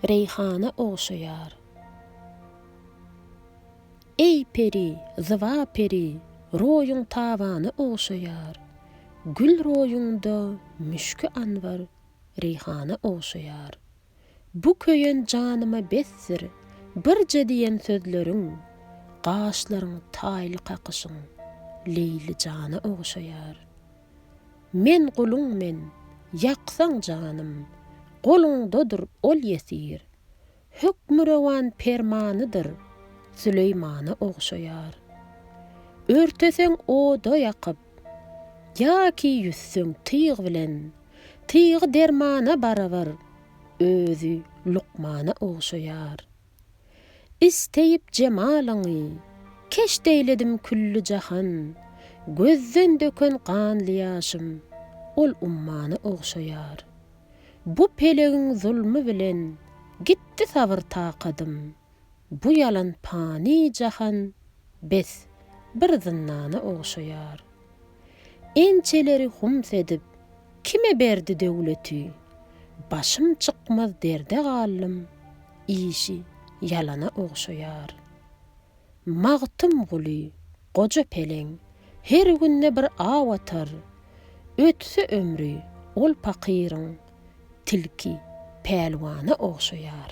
Reýhana ogşaýar. Eý peri, zyba peri, roýuň tabana ogşaýar, Gül roýuňda müşki anbar, reýhana ogşaýar. Bu köýen janyma besdir, birje diýen sözleriň, Gaşlaryň taýly kakyşyň, Leýli jana ogşaýar. Men guluň men, ýaksaň janym, Goluňdadyr ol ýesir. Hökmürowan permanydyr, Süleýmana ogşaýar. Örteseň oda ýakyp, Ýa-ki ýüzseň tyg bilen, Tygy dermana barabar, Özi lukmana ogşaýar. Isteýip jemalyňy, keşt eýledim külli jahan, Gözden döken ganly ýaşym, ol ummana ogşaýar. Bu pelegiň zulmy bilen, gitdi sabyr-takadym, Bu ýalan pany jahan, bes, bir zyndana ogşaýar. Ençeleri hums edip, kime berdi döwleti? Başym çykmaz derde galdym, işi ýalana ogşaýar. Magtymguly, goja peleň, her günde bir aw atar. Ötse ömri, ol pakyryň, tilki pälwana ogşaýar.